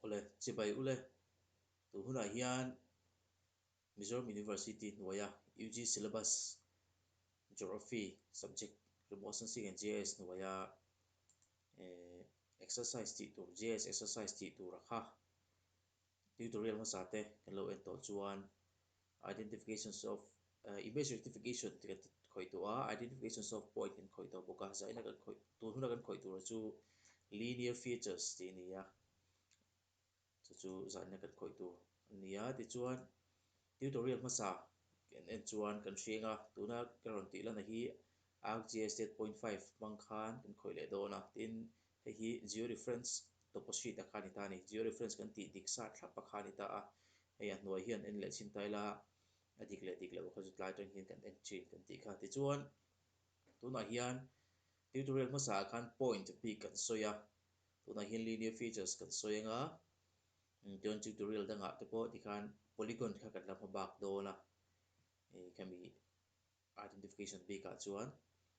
Awle, chibai ule. Tun hunah hian Mizoram University hnuaia UG Syllabus Geography subject rimawh San Sik and GIS hnuaia Exercise tih tur, GIS Exercise tih tura kha Tutorial hmasa te kan lo en tawh chuan Identifications of Image Rectification te kan khawih tawh a, Identifications of Point kan khawih tawh bawk a, zaina kan khawih, tun huna kan khawih tura chu Linear Features tih a ni a, chu chu zaina kan khawih tur a ni a, tichuan. Tutorial hmasa kan en chuan kan hreng a, tuna ka rawn tih lana hi arcgis date point five hmang khan kan khawih leh dawn a, tin hei hi georeference tawpahrit a kha a ni ta a ni, georeference kan tih dik sat thlap a kha a ni ta a, hei a hnuai hian en leh chhin ta ila a dik leh dik loh kha chu tlai atangin kan en thin kan tih kha. Tichuan tunah hian tutorial hmasaah khan point bik kan sawi a, tunah hian linear features kan sawi anga Tichuan tutorial dangah te pawh tikhan polygon kha kan la hma bak dawn a, hei khami identification bikah chuan.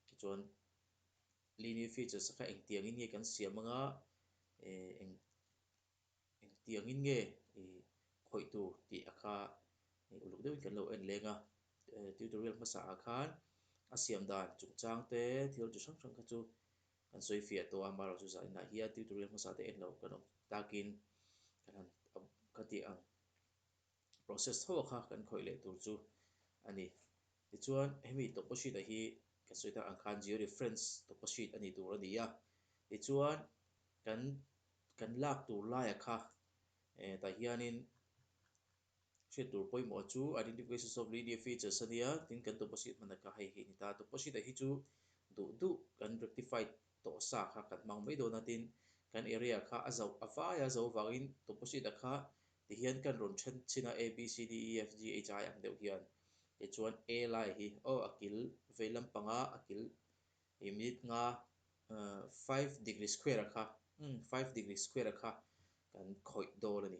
Tichuan linear features kha engtiangin nge kan siam anga, eng engtiangin nge i khawih tur tih a kha uluk deuhin kan lo en leng a. Tutorial hmasaah khan a siam dan chungchang te thil chi hrang hrang kha chu Kan sawifiah tawh a, Maro chu zainah hian tuitur leh hmasa te en lo kan awm takin kan han a ka tih ang. Process tho a kha kan khawih leh tur chu a ni. Tichuan hemi tawlhpahritah hi kan sawi ta ang khan zero reference tawlhpahrit a nih tur a ni a. Tichuan kan kan lak tur laia kha eh tah hianin. hriat tur pawimawh chu identification of linear features a nia, tin kan deposit hman a ka hei hi a ni ta, deposit a hi chu duh duh kan rectified tawh sa kha kan hmang mai dawn a tin kan area kha a zauh a vai a zo vangin deposit a kha ti hian kan rawn then chhin a a b c d e f g h i ang deuh hian tichuan a lai hi aw a kil vei lampanga a kil ih minute nga five degree square a kha five degree square a kha kan khawih dawn a ni.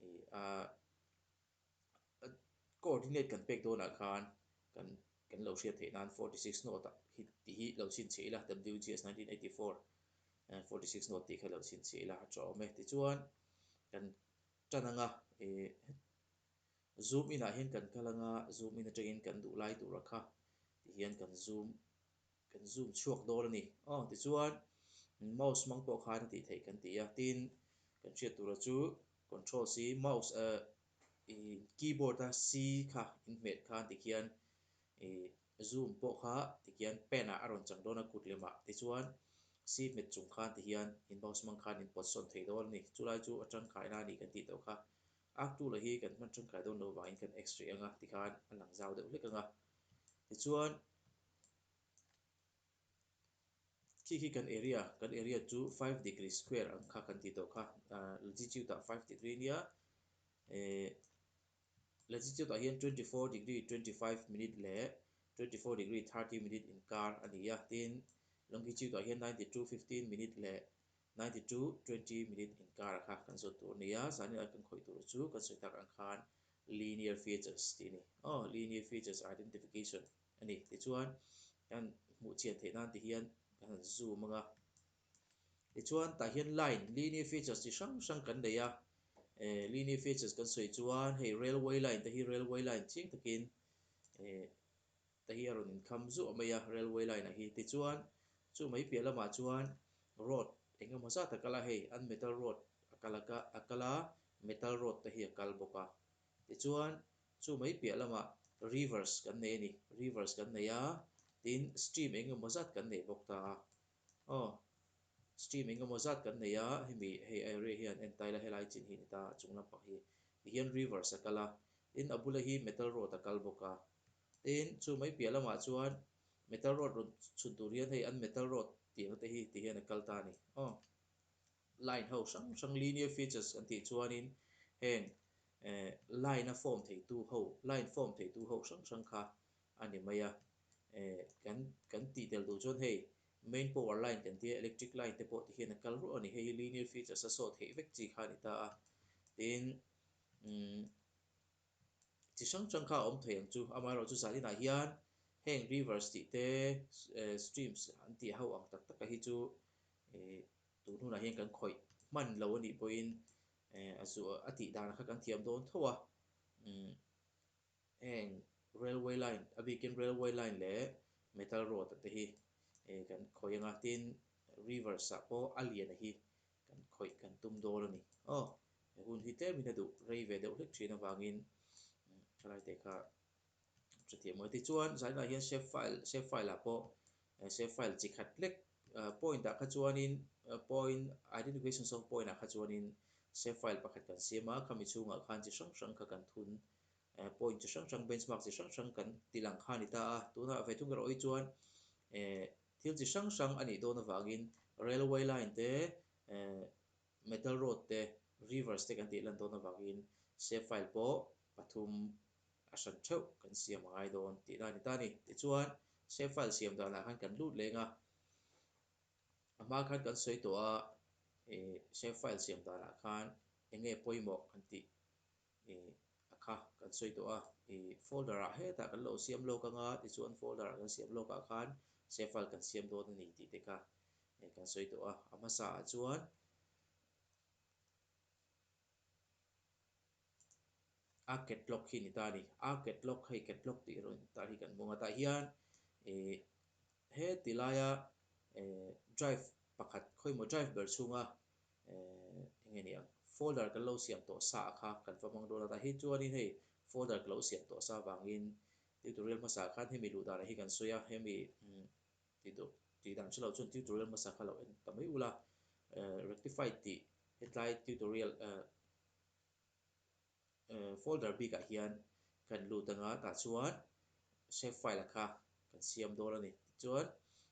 Ni a coordinate kan pek dawnah khan kan kan lo hriat theih nan forty six note ah hit tih hi lo chhin chhe ila WGS nineteen eighty four forty six note tih kha lo chhin chhe ila chu a awm e tichuan kan tan ang a zoom in ah hian kan kal ang a zoom in atangin kan duh lai tura kha tihian kan zoom Kan zoom chhuak dawn a ni. Aw, tichuan, mouse hmang pawh khan a tih theih kan ti a. Tin, kan hriat tura chu Control C, mouse a i keyboard a C kha in hmet khan tikhian i zoom pawh kha tikhian pen ah a rawn chang dawn a, kut lem ah. Tichuan, C hmet chung khan tihian i mouse hmang khan in pawt sawn thei dawn a ni. Chulai chu a tangkai na a ni kan tih tawh kha. Ak tu la hi kan hman tangkai dawn lo vangin kan X rih ang a tikhan a lang zau deuh hlek ang a. Tichuan, khi khi kan area kan area chu five degree square ang kha kan tih tawh kha ah latitude ah five degree nia ehh latitude ah hian twenty four degree twenty five minute leh twenty four degree thirty minute inkar a ni a tin longitude ah hian ninety two fifteen minute leh ninety two twenty minute inkar a kha kan zawt tur a ni a zahni lai kan khawih tur chu kan sawi tak ang khan linear features tih a ni aw linear features identification. a ni. Tichuan, kan hmuh chhian theih nan te hian kan han zoom ang a. Tichuan, tah hian line, linear features chi hrang hrang kan nei a. Ehh linear features kan sawi chuan hei railway line te hi railway line chiang takin ehh te hi a rawn inkham zuah mai a railway line ah hi. Tichuan, chu mai piah lamah chuan road enge maw zat a kal a, hei an metal road a kal a kal a metal road te hi a kal bawk a. Tichuan, chu mai piah lamah rivers kan nei a ni, rivers kan nei a, tin stream eng emaw zat kan nei bawk ta. Aw, stream eng emaw zat kan nei a, hemi hei a area hian en tile a helai chin hi a ni ta, a chung lampang hi. Tihian rivers a kal a, tin a bula hi metal rod a kal bawk a. Tin, chu mai piah lamah chuan metal rod rawn chhun tur hian hei an metal rod tiang te hi tihian a kal ta a ni. Aw, Line ho hrang hrang, linear features, kan tih chuanin heng eh line-a form theitu ho, line form theitu ho hrang hrang kha a ni mai a. Eh kan kan tih tel duh chuan hei main power line kan tia electric line te pawh ti hian a kal ruah a ni. Hei hi linear features-a sawt theih vek chi kha a ni ta a. Tin umm. chi hrang hrang kha a awm thei ang chu, amaherawh chu zah inah hian heng rivers tih te streams an tih ho ang tak taka hi chu ih tun hunah hian kan khawih hman lo a nih pawhin eh a zu a tih dan kha kan thiam dawn tho a, umm heng railway line a bikin railway line leh metal rod te hi eh kan khawih ang a tin rivers ah pawh a lian a hi Kan khawih kan tum dawl a ni. Aw, he hun hi tlem in a duh rei ve deuh hlek thin avangin thalai te kha a hre thiam maw? Tichuan, zainah hian save file, save file ah pawh save file chi khat hlek point ah kha chuanin point identification of point ah kha chuanin save file pakhat kan siam a, khami chhungah khan chi hrang hrang kha kan thun point chi hrang hrang benchmark chi hrang hrang kan tih lang kha a ni ta a. Tunah ve thung erawh hi chuan e. Thil chi hrang hrang a nih dawn avangin railway line te, metal road te, rivers te kan tih lan dawn avangin save file pawh pathum a hran theuh kan siam a ngai dawn tihna a ni ta a ni. Tichuan, save file siam danah khan kan lut leng a, a hma khan kan sawi tawh a, save file siam danah khan enge pawimawh kan tih a kha kan sawi tawh a, folder ah hetah kan lo siam lawk anga tichuan folder ah kan siam lawk ah khan save file kan siam dawn a ni tih te kha kan sawi tawh a, a hmasa ah chuan a catlock hi a ni ta a ni, a catlock hei catlock tih run tar hi kan hmang a tah hian he ti laia drive pakhat khawimawh drive ber chhunga Ehh enge nih ang folder kan lo siam tawh sa a kha kan va hmang dawn a tah hi chuanin hei folder ka lo siam tawh sa vangin tutorial hmasa khan hemi luh danah hi kan sawi a hemi tih duh tih dan chilo chuan tutorial hmasa kha lo en ta mai ula ehh rectified tih hetlai tutorial ehh. Folder bikah hian kan lut anga tah chuan Save File a kha kan siam dawn a ni. Tichuan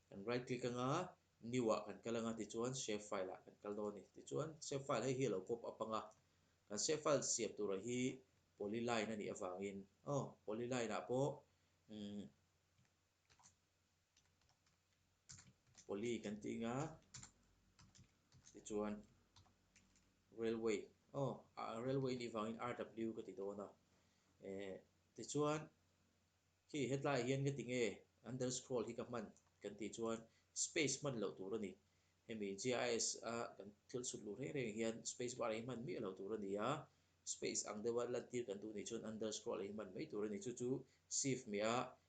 kan right click anga New ah kan kal anga tichuan Save File ah kan kal dawn a ni. Tichuan Save File hei hi a lo pop up anga kan Save File siam tura hi Polyline a nih avangin aw Polyline ah pawh umm Poly kan tih nga tichuan railway aw railway nih vangin rw ka ti dawn a eh tichuan khi hetlai hian ka ti nge underscroll hi ka hman kan tih chuan space hman loh tur a ni hemi gis a kan thil chhut luh reng reng hian space bar hi hman miah loh tur a ni a space ang deuha lantir kan duh nih chuan underscroll hi hman mai tur a ni chu chu shift miah a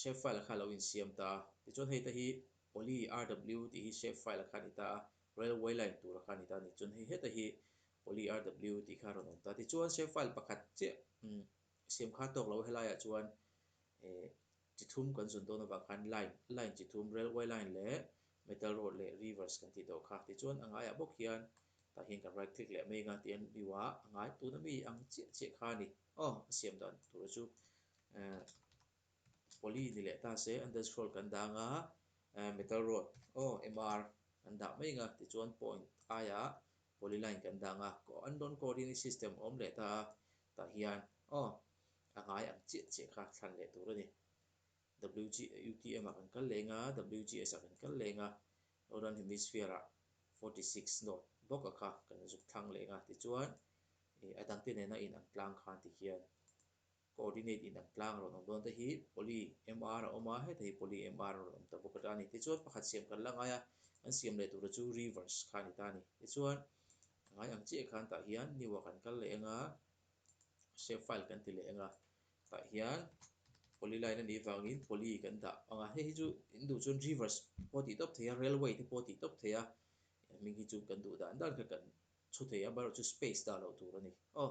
shapefile a khan lo insiam ta a, tichuan hei te hi poly rw tih hi shapefile a khan i ta a, railway line tur a khan i ta a ni, chuan hei heta hi poly rw tih kha a rawn awm ta a, tichuan shapefile pakhat chiah siamkha tawk loh helaiah chuan chi thlum kan zawt dawn avang khan line, line chi thlum, railway line leh metal rod leh rivers kan tih tawh kha, tichuan a ngaiah bawk hian tah hian kan right click leh mai anga tiang in view ah a ngai tuna mi ang chiah chiah kha a ni aw a siam dan tura chu Ehh poly ni leh ta se an dancehall kan dang a ehh metal rod aw mr an dah mai anga tichuan point aia poly line kan dang a an dawn coordinate system a awm leh ta a tah hian aw a ngai ang chiah chiah kha thlan leh tur a ni wg utm ah kan kal leng a wgs ah kan kal leng a northern hemisphere ah forty six north bawk a kha kan zuk thlang leng a tichuan a dangte nena in ang tlang khan ti hian. Coordinate in an tlang rawn awm dawn te hi poly MR a awm a, heta hi poly MR an rawn awm ta bawk a ta a ni. Tichuan pakhat siam kan la ngai a, an siam leh tura chu reverse kha a ni ta a ni. Tichuan a ngai ang chiah khan tah hian new-a kan kal leh eng a, save file kan ti leh eng a tah hian polyline a nih vangin poly kan dah ang a, hei hi chu in duh chuan reverse pawh a tih tawp thei a, railway te pawh a tih tawp thei a, heng hming hi chu kan duh dan dan kha kan chhu thei a, amaherawhchu space dah loh tur a ni. Aw,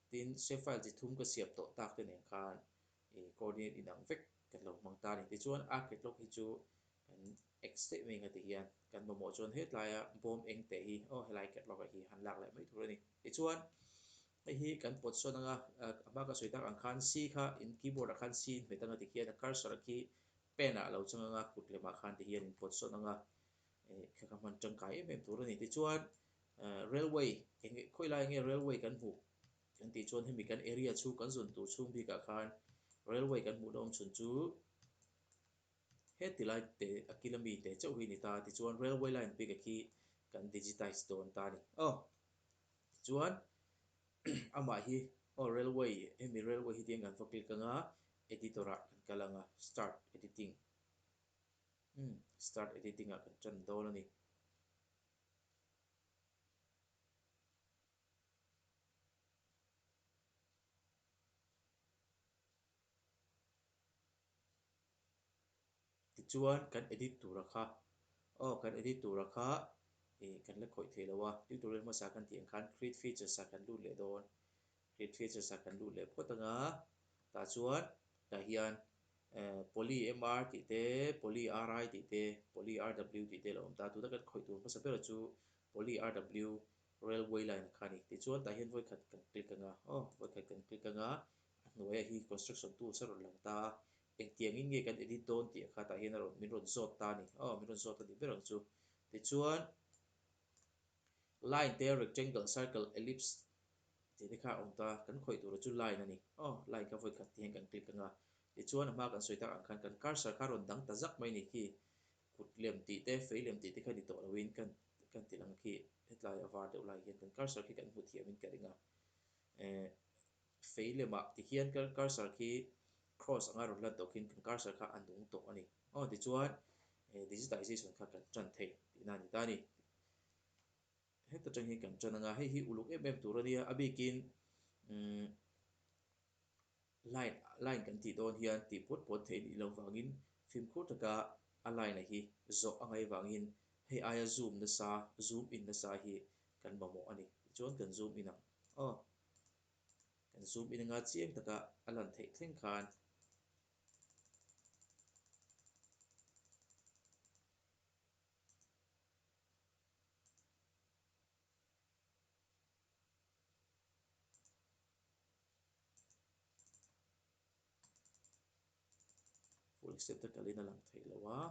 Tin, Sheffield chi thum ka siam tawh tak te nen khan i coordinate inang vek kan lo hmang ta a ni. Tichuan, a catlogue hi chu kan ex theih mai ang a ti hian kan mamawh chuan hetlaia bawm eng te hi aw helai catlogue ah hi han lak leh mai thur a ni. Tichuan, hei hi kan pawt sawn anga a hma ka sawi tak ang khan C kha in keyboard ah khan C inhmet ang a ti hian a cursor khi pen ah a lo chang anga kut lemah khan ti hian in pawt sawn anga Kha ka hman tangkai em em tur a ni. Tichuan railway enge khawi lai enge railway kan hmuh kan tih chuan hemi kan area chhung kan zun tur chhung bikah khan railway kan hmuh lawm chhun chu heti lai te a kil a mi te chauh hi a ni ta. Tichuan railway line bikah khi kan digitize dawn ta a ni. Aw tichuan amah hi aw railway hemi railway hi tiang kan va click anga editor ah kan kal anga start editing Umm start editing ah kan tan dawn a ni. Tichuan kan edit tura kha aw kan edit tura kha ih kan la khawih theih lo a, tutorial hmasa kan tih ang khan create features ah kan lut leh dawn He thilsasa kan luh leh phawt anga, tah chuan tah hian poly-MR tih te, poly-RI tih te, poly-RW tih te la awm ta, tuna kan khawih tur hmasa bera chu poly-RW railway line kha a ni. Tichuan tah hian vawikhat kan click anga, aw, vawikhat kan click anga, a hnuaia hi construction tools a rawn lang ta a, engtiangin nge kan edit dawn tih kha tah hian a rawn, min rawn zawt ta a ni, aw, min rawn zawt a nih ber ang chu. Tichuan. Line te, rectangle, circle, ellipse tih te kha a awm ta, kan khawih tura chu line a ni. Aw, line kha vawikhat tih hian kan click anga, tichuan a hma kan sawi tak ang khan kan cursor kha a rawn dang ta zak mai ni khi, kut lem tih te, fei lem tih te kha ni tawh loin kan kan ti lang khi, hetlai a var deuh lai hian kan cursor khi kan hmu thiam in ka ring a. Ehh. Fei lema tihian kal cursor khi cross anga rawn lan tawh khin kan cursor kha a nung tawh a ni. Aw tichuan he digitization kha kan tan thei tihna a ni ta a ni. Heta tang hian kan tan anga hei hi uluk em em tur a nia a bikin umm line line kan tih dawn hian tih puan puan theih nih loh vangin fimkhur taka a line a hi zawh a ngai vangin hei aia zoom nasa zoom in nasa hi kan mamawh a ni. Tichuan kan zoom in ang aw. kan zoom in anga chiang taka a lan theih thleng khan full extent a kalin a lang theih lo a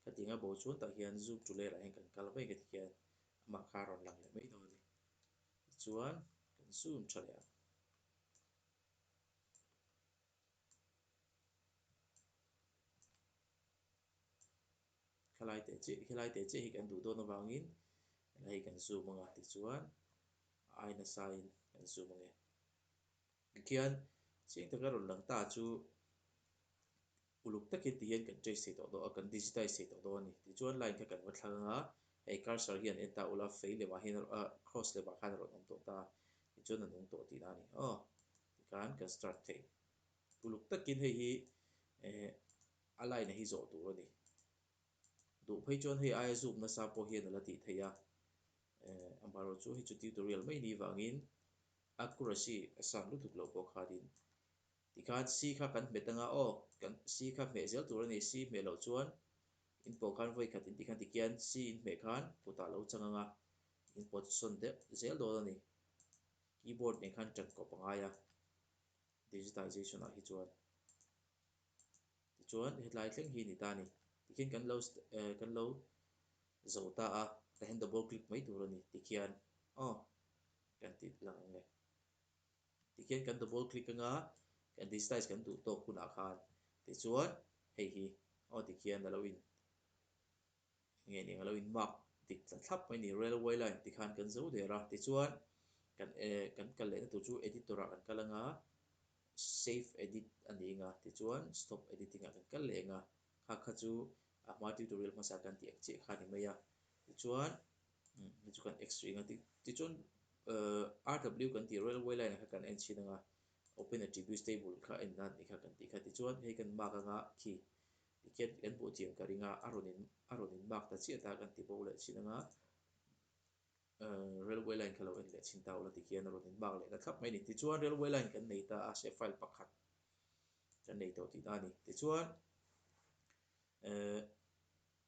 khating a bo chuan tah hian zoom to layer ah hian kan kal vek a ti hian amah kha a rawn lang leh mai dawn a ni. Tichuan kan zoom tha leh a. Khalai teh chiah khelai teh chiah hi kan duh dawn avangin hei kan zoom anga tichuan a ai nasain kan zoom ange. Tikhian chiang taka rawn lang ta chu Uluk takin ti hian kan trace thei tawh daw a, kan digitize thei tawh daw a ni. Tichuan line kha kan va thlang anga, hei cursor hi an en ta ula, fei lemah hian a rawn, cross lemah khan a rawn awm tawh ta a, tichuan a nung tawh tih na a ni. Aw, tikhan kan start thei. Uluk takin hei hi eh a line-a hi zawh tur a ni. Duh phei chuan hei aia zûm nasa pawh hian a la tih theih a. Eh, a mah rawh chu, hei chu tutorial mai ni vangin accuracy a san lutuk lo pawh khanin Tikhan si kha kan hmet anga aw kan si kha hmeh zel tur a ni, si hmeh loh chuan in paw khan vawi khat in ti khan ti kian si in hmeh khan kutah lo chang anga in paw chu sawn deuh zel dawn a ni. Keyboard nen khan tan kawp a ngai a digitization-ah hi chuan. Tichuan hetlai thleng hi ni ta a ni. Tikhian kan lo eh kan lo zo ta a, tah hian double click mai tur a ni tikhian aw kan tih lang ang e. Tikhian kan double click anga kan digitize kan duh tawk hunah khan tichuan hei hi aw tikhian alo in nge eng alo in mark dik tla thlap mai ni railway line tih khan kan zo der a tichuan kan eh kan kal leh na tur chu editor ah kan kal anga save edit a ning a tichuan stop editing ah kan kal leh eng a kha kha chu a hma tutorial hmasa kan tih ang chiah kha ni mai a tichuan Hei chu kan extra eng a, tichuan rw kan tih railway line kha kan en chhin anga open attributes table kha en nan ni kha kan tih kha tichuan hei kan mark anga khi tikhian kan hmuh chiang ka ringa a rawn in a rawn in mark ta chiah ta kan ti bo leh chhin anga railway line kha lo en leh chhin ta ula tikhian a rawn in mark leh ta thlap mai ani tichuan railway line kan nei ta a shape file pakhat kan nei tawh tih ta ani tichuan ehh.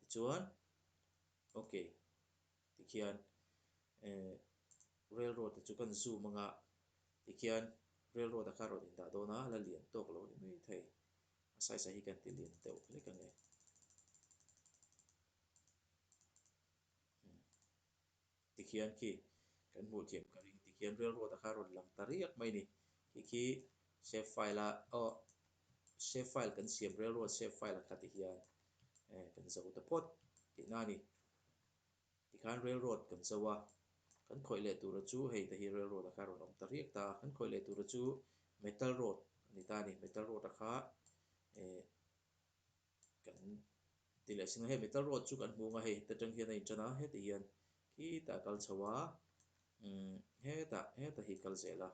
Tichuan, Ok tikhian eh railroad te chu kan zoom anga tikhian railroad a kha rawn indah dawn a, a la lian tawk lo ni maithei. A size a hi kan tilian deuh hlek ange. Tikhian khi kan hmuh thiam ka ring tikhian rilruat a kha rawn lang ta riak mai ni. Khi khi save file a awh save file kan siam rilruat save file a kha tih hian eh kan zo ta phawt tih na ni. Tikhan rilruat kan zo a kan khawih leh tura chu hei te hi rilruat a kha rawn awm ta riak ta a. Kan khawih leh tura chu metal rod a ni ta a ni. Metal rod a kha eh. Kan ti leh sin a, hei Metal Rod chu kan hmu ang a hei heta tang hian a inṭan a, heta hian khitah a kal chho a, umm heta heta hi kal zel a,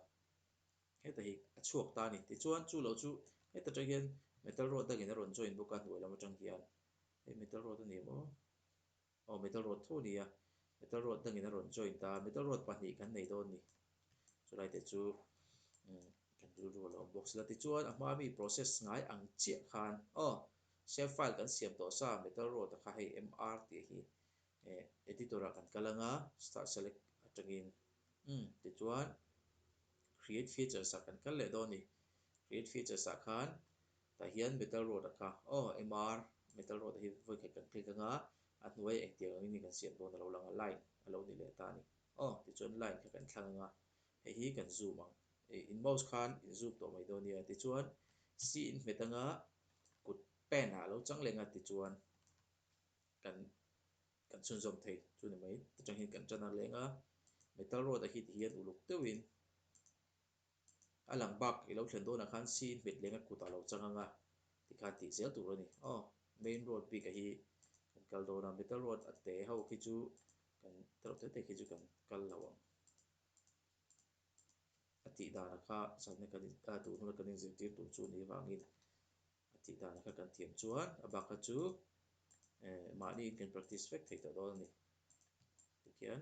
heta hi a chhuak ta a ni. Tichuan chu lo chu heta tang hian Metal Rod dangin a rawn join bawk a hnuai lam aṭang hian, hei Metal Rod a ni maw? Aw metal rod tho nia, metal rod dangin a rawn joint a, metal rod pahnih kan nei dawn ni? Chulai te chu umm kan rilru a lo awm bawk sila. Tichuan a hma mi process ngai ang chiah khan aw save file kan siam tawh sa metal rod a kha hei MR tih hi eh editor ah kan kal anga start select atangin umm tichuan create features ah kan kal leh dawn ni. Create features ah khan Tah hian Metal Road a tla. Aw, MR, Metal Road-a hi vawikhat kan click anga, a hnuaia engtiang angin i kan siam dawn a lo lang a, line a lo ni leh ta a ni. Aw, tichuan line kha kan thlang anga, hei hi kan zoom ang. Ei, in mouse khan in zoom tawh mai dawn nia. Tichuan C in hmet anga kut pen-ah a lo chang leng a, tichuan kan kan chhunzawm thei chu ni mai. Chutangin kan tan a leng a, Metal Road-a hi tihian uluk deuhin a lang bak i lo thlen dawnah khan sin hmetlênga kutah lo chang ang a tih khan tih zel tur a ni. Aw, main road bik a hi kan kal dawn a, middle road a te ho khi chu kan ta lo tel thei khi chu kan kal lo ang a tih dânah kha zanna kan in a tûr hmuna kan in zirtîr tûr chu ni avangin a tih dânah kha kan thiam chuan a bak a chu eh mahniin kan practice vek thei tawh dawn a ni tikhian.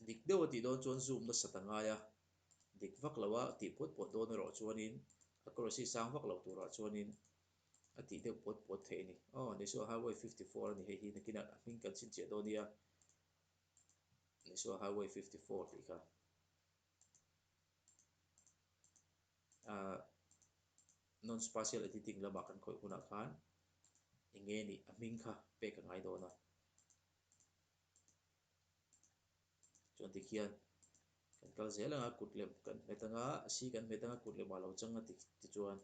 Dik deuh a tih dawn chuan Zoom nasat a ngai a, dik vak lo a tih puat puat dawn erawh chuanin a Crossy sang vak lo turah chuanin a tih deuh puat puat theih a ni. Aw Nisuaha Highway fifty four a ni hei hi nakinah a hming kan chhinchhiah dawn nia, Nisuaha Highway fifty four tih kha. Ahh non spatial editing lamah kan khawih hunah khan eng nge nih a hming kha pek ka ngai dawn a. Chuan dik hian kan kal zel anga kut lem kan hmet anga a si kan hmet anga kut lem a lo chang a tih ti chuan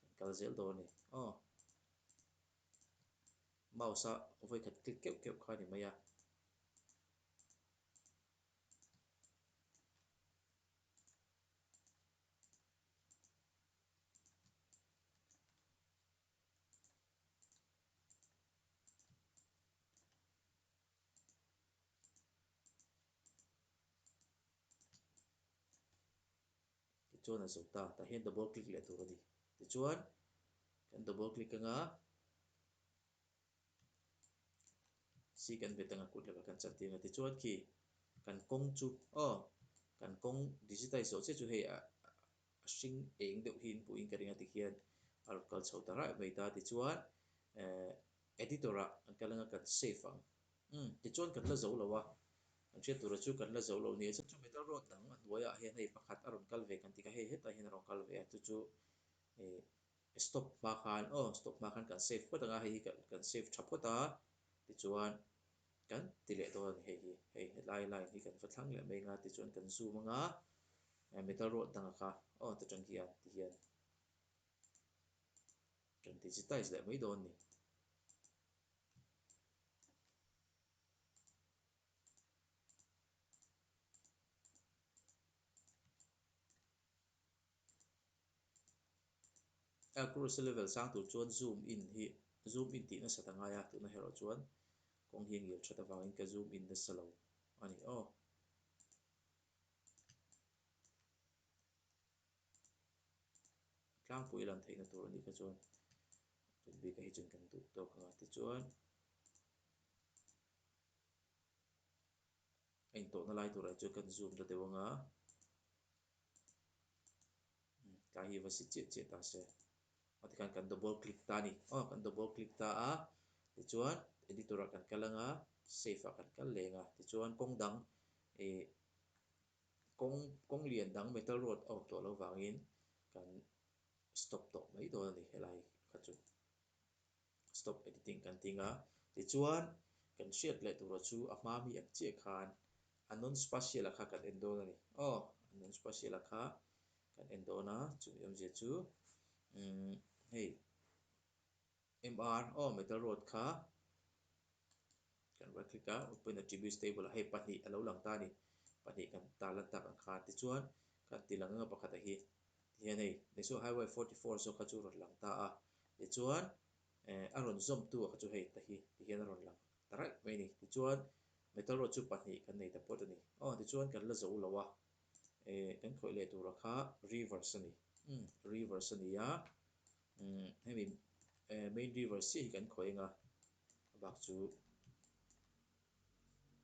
kan kal zel dawn a ni. Aw mouse a vawikhat click keuh keuh kha a ni mai a. Tichuan a zawh ta. Tah hian double click leh tur a ni. Tichuan kan double click anga. Sik an be tanga kut lova kan chan tih anga tichuan khi kan kawng chu aw kan kawng digitize zawh chiah chu hei a hring eng deuh hi inpuh in ka ring a tikhian a rawn kal chho ta raih mai ta tichuan eh editor ah an kal anga kan save ang umm tichuan kan la zo lova kan hriat tura chu kan la zo lo ni asa chu metal rod dang a hnuaiah hian hei pakhat a rawn kal ve kan tih kha hei hetah hian a rawn kal ve a chu chu eh. I stop hma khan aw stop hma khan kan save phawt anga hei hi kan kan save tha phawt a tichuan kan ti leh dawn a ni hei hi hei helai line hi kan va thlang leh mai anga tichuan kan zoom anga eh metal rod danga kha aw ti tan hian ti hian kan digitize leh mai dawn a ni. Air Cruise level sang tur chuan zoom in hi zoom in tih nasa ta ngai a, tuna hero chuan kawng hi a ngil that avangin ka zoom in nasa lo a ni aw. Tlangpui lan theihna tur a nih kha chuan tun bika hi chuan kan duh tawk anga tichuan a intawhna lai turah hi chuan kan zoom ta deuh anga Tlai hi va si chiah chiah ta se. Ati khan kan double click ta ani. Aw kan double click ta a. Tichuan editor ah kan kal anga save ah kan kal leng a. Tichuan kawng dang eh kawng kawng lian dang metal rod a awm tawh lo vangin kan stop tawh mai dawn ani helai kha chu. stop editing kan ting a, tichuan kan hriat leh tura chu a hma mi ang chiah khan a non spatial-a kha kan en dawn a ni. Aw, a non spatial-a kha kan en dawn a, chumi awm zia chu umm hei mr aw metal rod kha, Kan rak hlik a, Upen Attributes Table ah hei pahnih a lo lang ta a ni. Pahnih kan ta lan tak ang kha. Tichuan, kan tih lang anga pakhat ah hi, tihian hei, Nisuo Highway forty four zawk kha chu rawn lang ta a. Tichuan, eh, a rawn zawm tu ah kha chu hei ta hi, tihian a rawn lang ta raih mai a ni. Tichuan, Metal Road chu pahnih kan nei ta pawt a ni. Aw, tichuan kan la zo lo a, eh, kan khawih leh tur ah kha Rivers a ni. Umm, Rivers a ni a, umm, hemi, eh, Main Rivers chiah hi kan khawih anga, A bak chu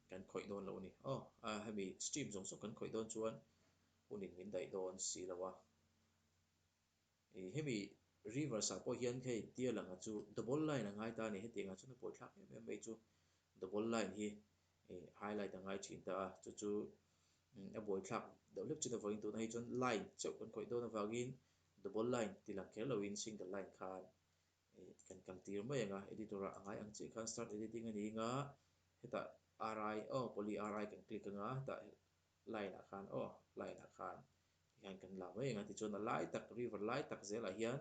kan khawih dawn lo a ni. Aw, a hemi stream zawng zawng kan khawih dawn chuan hunin min daih dawn si lo a. Ih, hemi reverse ah pawh hian hei tia langa chu double line a ngai ta a ni. Hetianga chuan a pawi thlak em em mai chu double line hi ih highlight a ngai thin ta a. Chu chu a buai thlak deuh hlek chin avangin tuna hei chuan line cheuh kan khawih dawn avangin double line tih lang kher loin single line khan Kan kan tir mai ang a, editor ah a ngai ang chiah khan start editing a ning a, hetah ri aw poly ri kan click anga hetah line ah khan aw line ah khan ti khan kan la mai ang a tichuan a lai tak river lai tak zel ah hian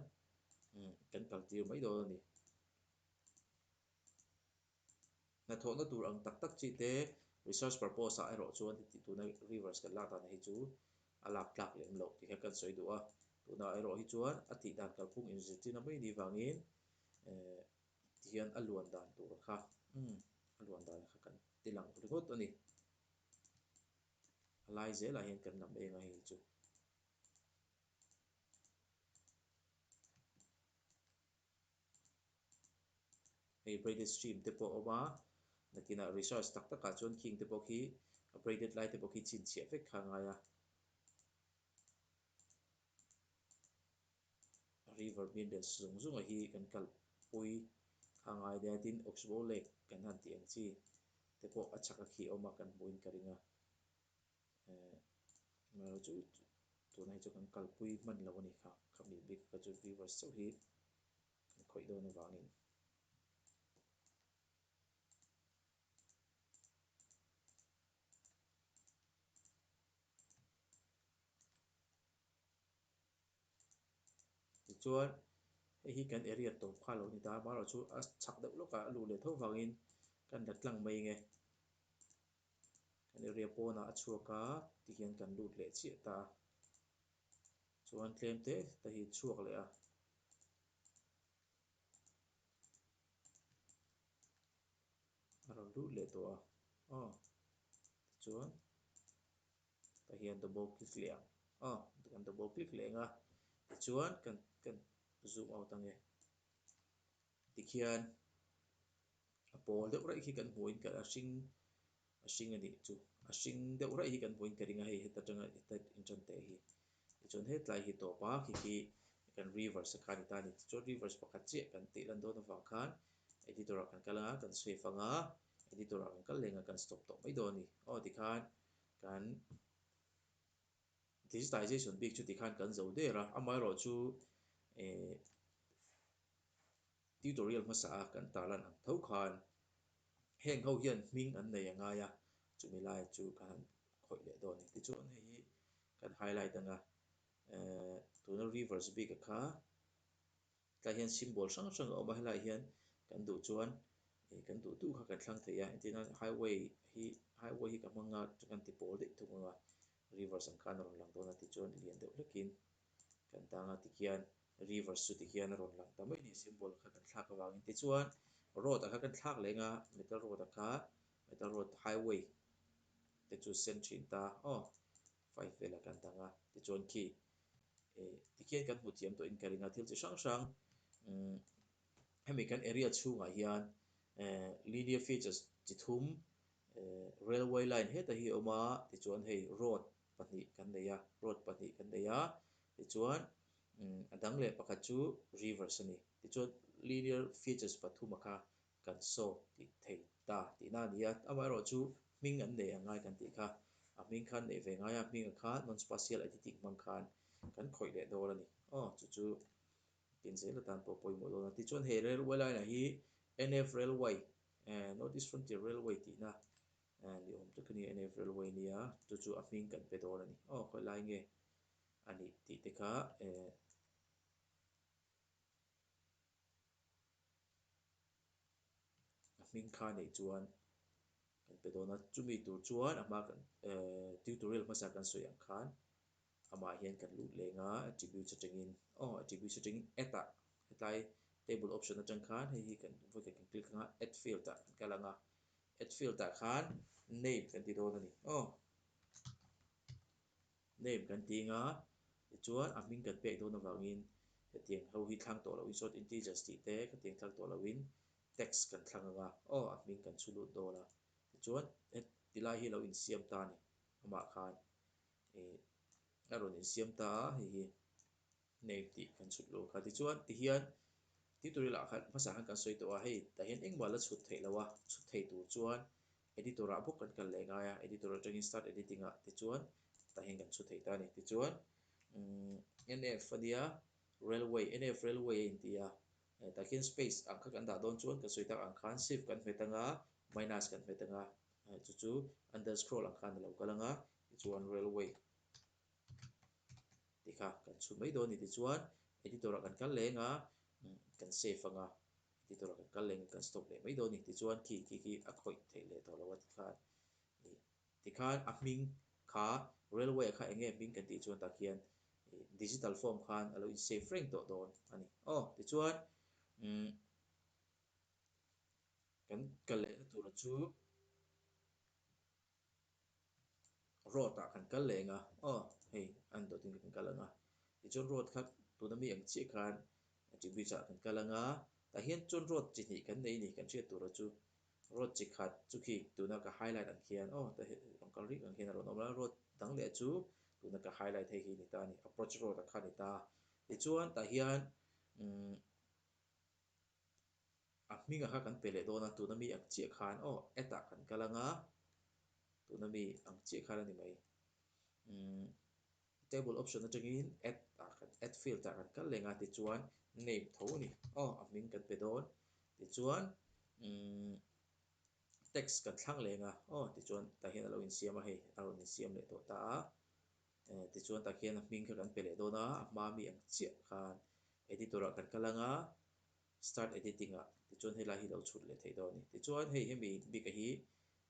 kan kal tir mai dawn a ni. Hnathawhna tur ang tak tak chi te research purpose ah erawh chuan heti tuna Rivers kan lak dan hi chu a lak tlak lem lo ti kha kan sawi duh a, tunah erawh hi chuan a tih dan kalphung inzirtirna mai ni vangin eh ti hian a luan dan tur kha umm a luan dan kha kan ti lang ringawt a ni. A lai zel ah hian kan lam eng a hei chu. Hei braided stream te pawh a awm a, nakinah research tak tak ah chuan khing te pawh khi a braided lai te pawh khi chin chhiah vek kha a ngai a. A river minerals zawng zawng a hi kan kalh pui kha a ngai daih a, tin Oxbow lake kan han tih ang chi te pawh a chhak a khih awm a kan hmuh in ka ring a. Ehh chu tuna hi chu kan kalpui hman lo a ni kha, kha mi bik ka chu viewers chauh hi kan khawih dawn avangin tichuan hei hi kan area tawp kha lo a ni ta amaherawhchu a chak deuh lawkah a luh leh tho vangin kan la tlang mai nge. kan i riah pawnah a chhuak a ti hian kan lut leh chiah ta a, chuan tlemte te hi chhuak leh a. A rawn lut leh tawh a, aw tichuan ta hian double click leh ang, aw kan double click leh ang a tichuan kan kan zoom out ange. Ti khian a pawl deuh raih khi kan hmuhin ka a hring a hring a nih chu a hring deuh raih hi kan hmuhin ka ring a hei heta tanga heta in tan teh hi ti chuan he tlai hi tawp a khi khi kan reverse a kha ni ta ni ti chuan reverse pakhat chiah kan tih lan dawn avang khan editor ah kan kal anga kan save anga editor ah kan kal lengah kan stop tawh mai dawn a ni aw ti khan kan Digitization bik chuti khan kan zo der a, amaherawh chu eh tutorial hmasa a kan ta lan ang tho khan heng ho hian hming an nei a ngai a, chumi lai chu ka han khawih leh dawn a ni. Tichuan hei hi kan highlight anga eh tuna reverse bik a kha. Helai hian symbol hrang hrang a awm a, helai hian kan duh chuan ih kan duh duh kha kan thlang thei a, entirna hian highway hi highway hi ka hmang a chu kan ti pawl daih thung ang a, rivers ang khan a rawn lang dawn a tih chuan lian deuh hlekin kan dang a tikhian rivers chu tikhian a rawn lang ta mai nia symbol kha kan thlak avangin tichuan road a kha kan thlak leng a metal road a kha metal road highway te chu sen thin ta aw. Five vela kan dang a, tichuan khi tikhian kan hmu thiam tawhin ka ring a, thil chi hrang hrang hemi kan area chhungah hian linear features chi thum railway line heta hi a awm a, tichuan hei road pahnih kan nei a, road pahnih kan nei a, tichuan a dang leh pakhat chu rivers a ni, tichuan linear features pathuma kha Kan sawk tih thei ta tihna a ni a, amaherawh chu hming an nei ang ngai kan tih kha, a hming khan nei ve ngai a, hming ah khan non-spatial editing hmang khan kan khawih leh dawn a ni. Aw, chu chu tin zel atan pawh pawimawh dawn a. Tichuan he railway line ah hi NF Railway, North East Frontier Railway tihna ni awm tak a ni a, NF Railway a nia, chu chu a hming kan pe dawn a ni. Aw, khawih lai nge a nih tih te kha. A hming thla a neih chuan kan pe dawn a, chumi tur chuan a hma kan eh tutorial hmasa kan sawi ang khan amah hian kan lut leng a, attributes atangin aw attributes atangin add ah hetlai table option atang khan hei hi kan vawi kan click ang a add field ah kan kal ang a, add field ah khan name kan ti dawn a ni aw. Name kan ti anga, tichuan a hming kan pek dawn avangin hetiang ho hi thlang tawh lohin sawt integers tih te khatiang thlang tawh lohin text kan thlang anga aw a hming kan chhu lut dawn a, tichuan heti lai hi a lo insiam ta a ni, amah khan ih a rawn insiam ta a hei hi. nei tih kan chhut lo kha tichuan tihian tih tur ila khan hmasa khan kan sawi tawh a hei tah hian engmah la chhut theih lo a chhut thei tur chuan editor ah bawk kan kal leh ngai a editor atangin start editing ah tichuan tah hian kan chhut thei ta a ni tichuan umm nf a nia railway nf railway a inti a tah khian space ang kha kan dah dawn chuan kan sawi tak ang khan shift kan hmet anga minus kan hmet anga chu chu underscroll ang khan alo kal anga tichuan railway. Tih kha kan chhun mai dawn a ni tih chuan editor-a kan kal leng a, kan save anga editor-a kan kal lengin kan stop leh mai dawn a ni tih chuan khi khi khi a khawih theih leh tawh lo a tih khan ni. Tih khan a hming kha railway-a kha eng nge hming kan tih chuan tak hian digital form khan a lo in save reng tawh dawn a ni. Aw tih chuan umm kan kal lehna tura chu. Road ah kan kal leng a, aw hei an dawt in ka kan kal ang a, tichuan road kha tuna mi ang chiah khan Tih Bridge ah kan kal anga, tah hian chuan road chi hnih kan nei a ni, kan hriat tur a chu road chi khat chu khi tuna ka highlight ang khian aw ta hi rawn kal rih ang khian a rawn awm a, road dang leh chu tuna ka highlight hei hi a ni ta a ni, Approach road ah kha a ni ta a, tichuan tah hian umm. A hminga kha kan pe leh dawn a, tuna mi ang chiah khan aw at ah kan kal anga, tuna mi ang chiah khan a ni mai. Umm table option atangin at ah kan at field ah kan kal lenga tichuan name tho a ni aw a hming kan pe dawn, tichuan umm text kan thlang lenga aw tichuan tah hian a lo insiam a hei a rawn insiam leh tawh ta a. Eh, tichuan tak hian a hming kha kan pe leh dawn a, a hma mi ang chiah khan Editor-ah kan kal ang a, Start Editing-ah, tichuan helai hi lo chhut leh theih dawn a ni. Tichuan hei hemi bik-a hi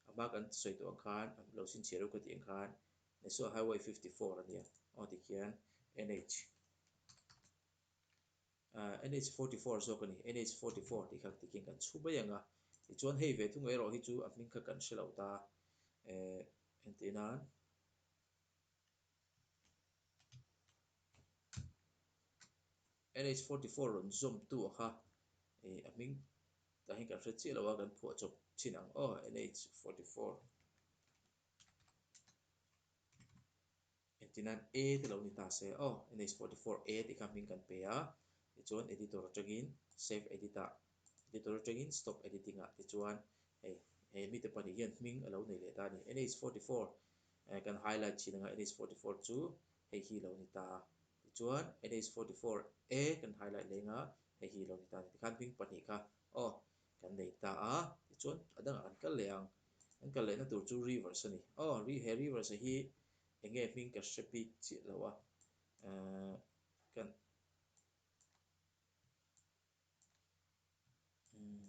a hma kan sawi tawh ang khan a lo sin chhiah reuh ka tih ang khan Naisua Highway fifty four a nia, aw tik hian NH ah NH forty four zawk a ni, NH forty four tih kha ka ti khian kan chhu mai ang a, tichuan hei ve thung erawh hi chu a hming kha kan hre lo ta, eh, entir nan, NH forty four rawn zawm tu a kha ih a hming tah hian kan hre chiah lo a kan phuah chawp chin ang aw NH forty four engtin an a te lo ni ta se aw NH forty four a tih kha hming kan pe a tichuan editor atangin save edit ah editor atangin stop editing ah te chuan hei he mite pahnih hian hming a lo nei leh ta a ni NH forty four Eh, kan highlight thin anga NH forty four chu hei hi lo ni ta a. Tichuan NH forty four e kan highlight leh anga hei hi lo ni ta a ni. Tikhan hming pahnih kha aw kan nei ta a. Tichuan a dangah kan kal leh ang. Kan kal lehna tur chu rivers a ni. Aw, ri he rivers a hi eng nge hming ka hre pi chiah loh a. Eh, kan, umm.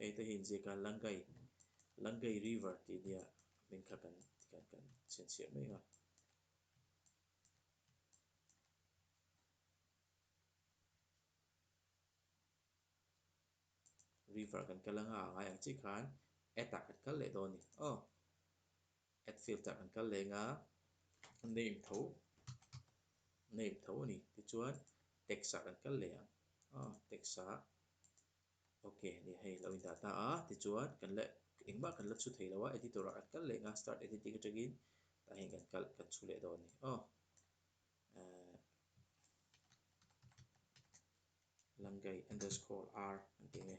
Hei te hi inziaka Langai, Langai River tih nia hming kha kan kan kan chhianchhiah mai a. River kan kal anga a ngai ang chiah khan at ah kan kal leh dawn a ni. Aw! Add filter an kal leng a, name tho name tho a ni. Tichuan text ah kan kal leh ang a, text a ok a ni. Hei lo indah ta a, tichuan kan la engmah kan la chhu thei lo a, editor ah kan kal leng a, start editing atangin tah hian kan kal kan chhu leh dawn a ni aw. Ahh Langai underscore R kan tih ang e.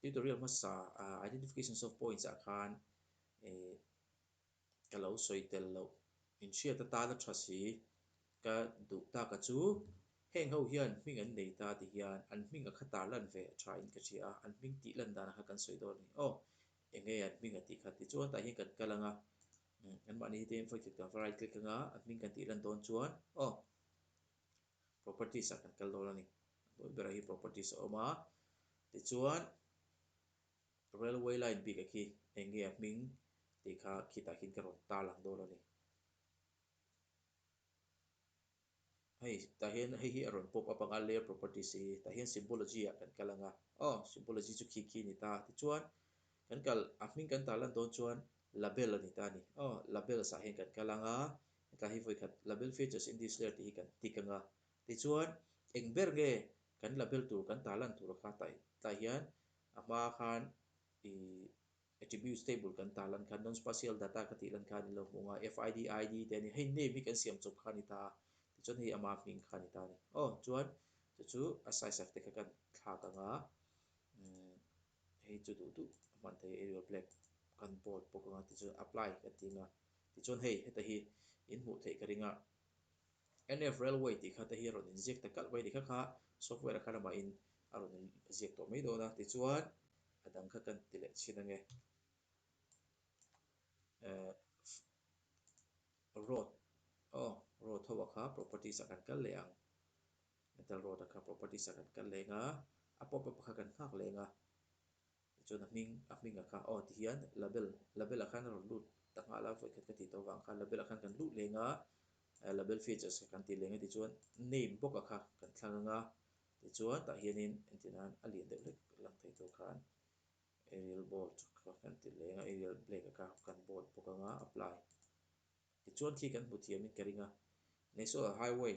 Tutorial hmasa Identifications of Points ah khan ih ka lo sawi tel loh, in hriat atan a tha si, ka duh ta ka chu heng ho hian hming an nei ta ti hian an hming a khatar lan ve a tha in ka hria a, an hming tih lan dan a kha kan sawi dawn a ni aw eng nge an hming a tih kha tichuan tah hian kan kal ang a, anmahni hi te infaihchhuk dan variety click anga an hming kan tih lan dawn chuan aw properties a kan kal dawn a ni. A hnuai berah hi properties a awm a, tichuan railway line bikah khi eng nge a hming tih kha khitah khin ka rawn tar lang dawn a ni. Hei tah hian hei hi a rawn pop up ang a, layer properties hi tah hian symbology ah kan kal ang a, aw symbology chu khi khi a ni ta. Tichuan kan kal a hming kan tarlan dawn chuan label a ni ta a ni, aw labels ah hian kan kal ang a, Hetlai hi vawikhat label features in this layer tih hi kan tick anga, tichuan eng ber nge kan label tur kan tah lan tura kha tai tlai hian a hma khan ih attributes table kan tah lan khan nonspatial data ka tih lan khan i lo hmuh anga FID, ID te a ni. Hei name hi kan siam chawp kha a ni ta a, tichuan hei ama hming kha a ni ta a ni. Aw chuan chu chu a size of te kha kan thlak anga umm hei chu duh duh a hman thei a, Arial black kan bold bawk anga, tichuan apply kan tih anga Tichuan hei heta hi in hmuh theih ka ring a, NF Railway tih kha te hi rawn inziak ta kalh mai ni kha kha, software-a kha ramahin a rawn in ziak tawh mai dawn a, tichuan a dang kha kan ti leh chin ange. Ahh road aw road ho-a kha properties-a kan kal leh ang, metal road-a kha properties-a kan kal leng a, a pop-up-a kha kan nghak leng a. Tichuan a hming, a hming a kha aw ti hian Label, Label a khan a rawn lut ta nghah la vawikhat ka tih tawh vang kha Label a khan kan luh leng a, Label features a kan tih leng a tichuan Name bawk a kha kan thlang ang a, tichuan tah hianin engtin nan a lian deuh hlek lang thei tur khan Arial bold a kha kan tih leng a, Arial black a kha kan bold bawk ang a, Apply. Tichuan khi kan hmu thiam in ka ring a, National Highway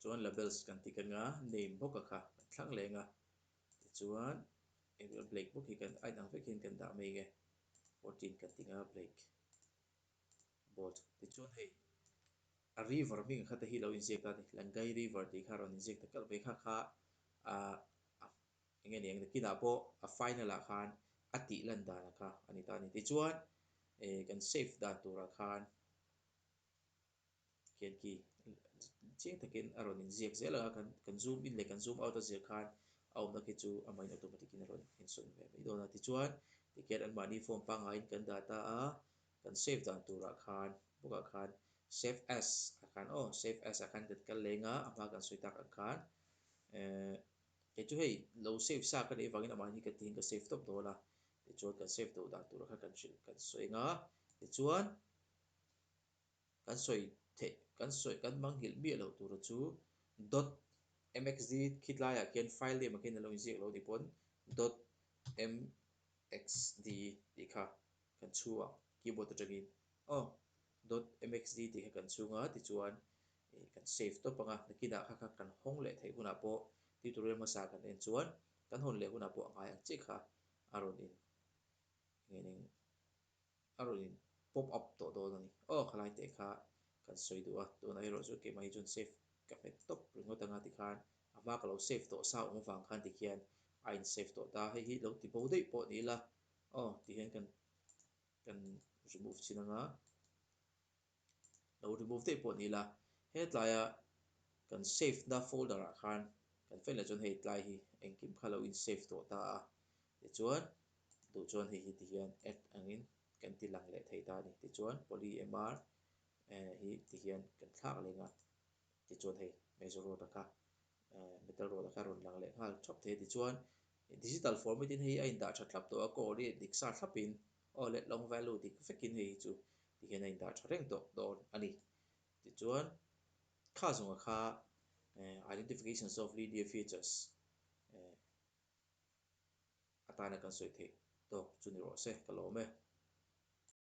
chuan labels kan ti keng a name bawk a kha kan thlang leng a tichuan engvah black bawk hi kan aitang vek hian kan dah mai nge fourteen kan ti nga black bold tichuan hei a river hming kha te hi lo inziak ta a ni langai river tih kha a rawn inziak ta kalh mai kha kha ah eng nge ni ang nakinah pawh a final ah khan a tih lan dan a kha a ni ta a ni tichuan ehh kan save dan turah khan. Khian khi chiang takin a rawn inziak zel ang a, kan kan zoom in leh kan zoom out a zir khan a awmna khi chu a main automatic in a rawn insawn ve mai dawn a, tichuan tikhian anmahni phone pangaiin kan dah ta a, kan save dan turah khan bawkah khan save as ah khan aw save as ah khan kan kal leng a, a hma kan sawi tak ang khan eh kei chu hei lo save sa ka neih vangin a mahni kan tihin ka save tawp dawn a, tichuan kan save do dan tur ah khan kan hrilh kan sawi eng a, tichuan. kan sawi theih kan sawi kan manghilh miah loh tura chu dot mxd khitlaiah khian file name ah khian alo inziak loh ani pawn dot mxd tih kha kan chhuah keyboard atangin aw dot mxd tih kha kan chhung a tichuan ih kan save tawp anga nakinah kha kha kan hawng leh theih hunah pawh tutorial hmasa kan en chuan kan hawn leh hunah pawh a ngai ang chiah kha a rawn in engin eng. A rawn in pop up tawh dawn a ni. Aw, khalai teh kha kan sawi duh a, tunah erawh chu kei mah hi chuan save ka hmet tawp ringawt anga ti khan a hma ka lo save tawh sa awm avang khan ti khian a in save tawh ta, hei hi lo ti bo daih pawh ni ila aw ti hian kan kan remove chin anga. lo remove daih pawh ni la, he tlaia kan save na folder ah khan kan fel leh chuan hei tlai hi engkim kha lo in save tawh ta a, tichuan duh chuan hei hi ti hian add angin kan ti lang leh thei ta a ni, tichuan polymr eh hi ti hian kan thlak leng a, tichuan hei major road a kha eh middle road a kha rawn lang leh nghal thap thei a, tichuan digital format in hei a indah tha thlap tawh a, coordinate dik sa thlap in Aw let long value dik vekin hei hi chu ti hian a indah tha reng tawh dawn a ni. Tichuan, kha zawngah kha identifications of linear features atana kan sawi theih tawk chu ni rawh se ka lawm e.